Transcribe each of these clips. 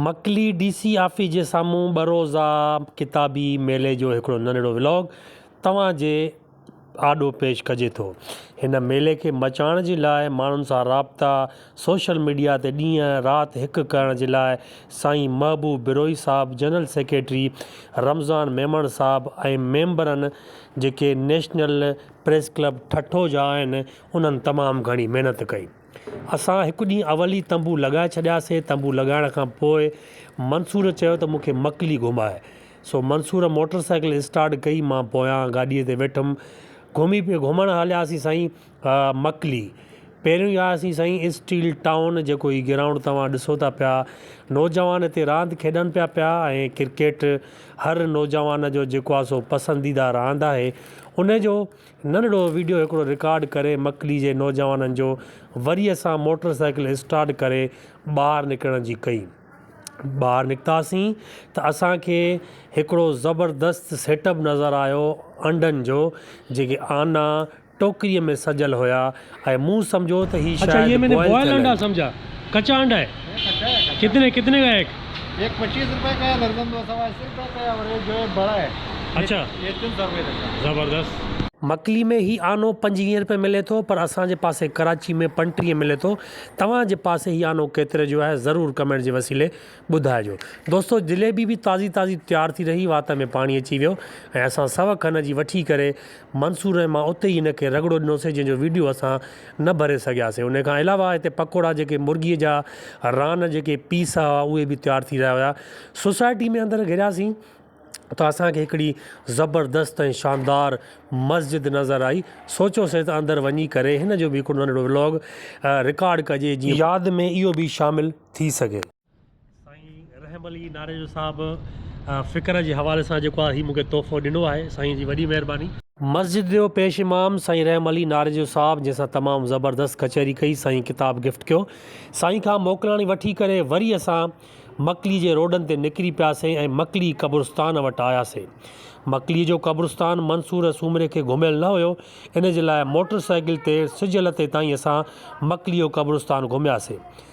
Makli D C office جي سامهون ٻه روزه ڪتابي ميلي جو هڪڙو ننڍڙو ولاگ توهان جي آڏو پيش ڪجي ٿو. هن ميلي کي مچائڻ جي لاء ماڻهن سان رابطا، سوشل ميڊيا تي ڏينهن رات هڪ ڪرڻ جي لاء سائين محبوب بروهي صاحب، جنرل سيڪريٽري رمضان ميمڻ صاحب ۽ ميمبرن جيڪي نيشنل پريس ڪلب ٺٽو جا آهن انهن تمام گهڻي محنت ڪئي. اسان هڪ ڏينهن اول ئي تنبو لڳائي ڇڏياسين. تنبو لڳائڻ کان پوء منصور چيو ته مون کي مڪلي گهماء. سو منصور موٽر سائيڪل اسٽارٽ ڪئي، مان پويان گاڏيء تي ويٺم. گهمي پي گهمڻ هلياسين سائين مڪلي. پهريون ئي آياسين سائين اسٽيل ٽائون، جيڪو هي گرائونڊ توهان ڏسو ٿا پيا. نوجوان هتي راند کيڏن پيا پيا ۽ ڪرڪيٽ هر نوجوان جو جيڪو آهي سو پسنديده راند آهي. ان جو ننڍڙو ويڊيو هڪڙو رڪارڊ ڪري مڪلي جي نوجوانن جو وري اسان موٽر سائيڪل اسٽارٽ ڪري ٻاهر نڪرڻ جي ڪئي ٻاهر نڪتاسين ته اسان کي هڪڙو زبردست سيٽ اپ نظر آيو انڊن جو جيڪي آنا ٽوڪري ۾ سجل هيا ۽ مون سمجهيو ته هي شايد بوائل ٿيل آهن. مڪلي ۾ هي آنو پنجويهين رپئي ملي ٿو پر اسان جي پاسي ڪراچي ۾ پنٽيهين ملي ٿو توهان جي پاسي هي آنو ڪيتري جو آهي ضرور ڪمينٽ جي وسيلي ٻڌائجو دوستو جليبي به تازي تازي تيار ٿي رهي وات ۾ پاڻي اچي ويو ۽ اسان سو کن جي وٺي ڪري منصور ۽ مان اتي ئي ان کي رڳڙو ڏنوسي جنهن جو ويڊيو اسان نه ڀري سگهياسي انهي کان علاوه هتي پڪوڙا جيڪي مرغي جا ران جيڪي پيس هئا اهي به تيار ٿي رهيا هيا سوسائٽي ۾ اندر گهڙياسين ته اسان کي هڪڙي زبردست ۽ شاندار مسجد نظر آئي سوچيوسي ته اندر وڃي ڪري هن جو به هڪڙو ننڍڙو ولاگ رڪارڊ ڪجي جيئن ياد ۾ اهو به شامل ٿي سگهي. سائين رحم علي ناريجو صاحب فڪر جي حوالي سان جيڪو آ هي مونکي تحفو ڏنو آهي سائين جي وڏي مهرباني. مسجد جو پيش امام سائين رحم علي ناريجو صاحب جنهن سان تمام زبردست ڪچهري ڪئي سائين ڪتاب گفٽ ڪيو سائين کان موڪلاڻي وٺي ڪري وري اسان مڪلي جي روڊن تي نڪري پياسين ۽ مڪلي قبرستان وٽ آياسين مڪلي جو قبرستان منصور سومري کي گهميل نه هيو ان جي لاء موٽر سائيڪل تي سج لٿي تائين اسان مڪلي جو قبرستان گهمياسين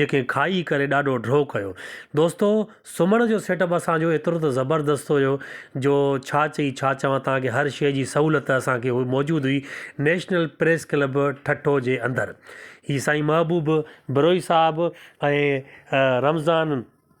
جيڪي کائي ڪري ڏاڍو ڊرو ڪيو. دوستو سمهڻ جو سيٽ اپ اسان جو ايترو ته زبردست هيو جو ڇا چئي ڇا چوان تان کي هر شئي جي سهولت اسان کي موجود هئي نيشنل پريس ڪلب ٺٽو جي اندر هي سائين محبوب بروهي صاحب ۽ رمضان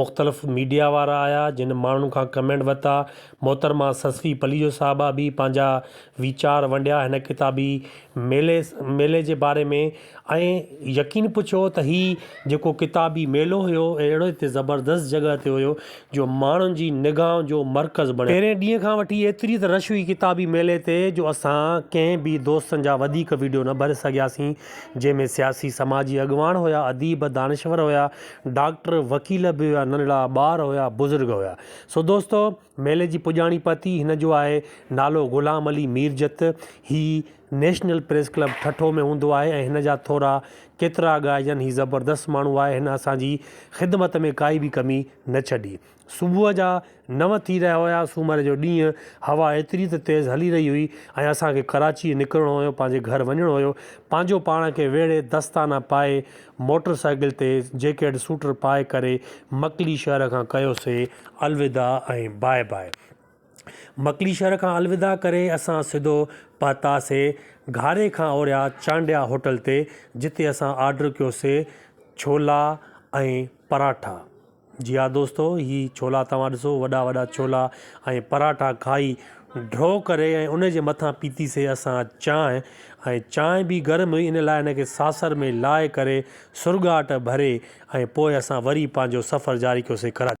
مختلف ميڊيا وارا آيا جن ماڻهن کان ڪمينٽ ورتا محترمه سسوي پليجو صاحبه به پنهنجا ويچار ونڊيا هن ڪتابي ميلي ميلي جي باري ۾ ۽ يقين پڇو ته هي جيڪو ڪتابي ميلو هيو اهڙو هتي زبردست جڳهه تي هيو جو ماڻهن جي نگاهن جو مرڪز بڻيو پهرين ڏينهن کان وٺي ايتري ته رش هئي ڪتابي ميلي تي جو اسان ڪنهن به دوستن جا وڌيڪ ويڊيو نه ڀري سگهياسين جنهن ۾ سياسي سماجي اڳواڻ هيا اديب دانشور هيا ڊاڪٽر، وڪيل به هيا، ننڍڙا ٻار هيا، بزرگ هيا. سو دوستو! ميلي جي پڄاڻي پتي هن جو آهي. نالو غلام علي ميرجت. هي نيشنل پريس ڪلب ٺٽو ۾ هوندو آهي ۽ هن جا ٿورا ڪيترا ڳائجن. هي زبردست ماڻهو آهي. هن اسان جي خدمت ۾ ڪائي به ڪمي نه ڇڏي. صبح جا نو ٿي رهيا هيا، سومر جو ڏينهن، هوا ايتري ته تيز هلي رهي هئي ۽ اسان کي ڪراچيء نڪرڻو هيو، پنهنجي گهر وڃڻو هيو، پنهنجو پاڻ کي ويڙهي، دستانا پائي، موٽر سائيڪل تي جيڪيٽ سوٽر پائي ڪري مڪلي شهر کان ڪيوسي الوداع ۽ باء باء. مڪلي شهر کان الوداع ڪري اسان سڌو پهتاسي گهاري کان اوريا چانڊيا هوٽل تي، جتي اسان آرڊر ڪيوسي ڇولا ۽ پراٺا. جي ها دوستو هي ڇولا توهان ڏسو وڏا وڏا ڇولا ۽ پراٺا کائي ڍو ڪري ۽ ان جي مٿان پيتي سي اسان چانهه ۽ چانهه به گرم هئي ان لاء ان کي ساسر ۾ لاهي ڪري سرڳاٽ ڀري ۽ پوء اسان وري پنهنجو سفر جاري ڪيو سي ڪراچي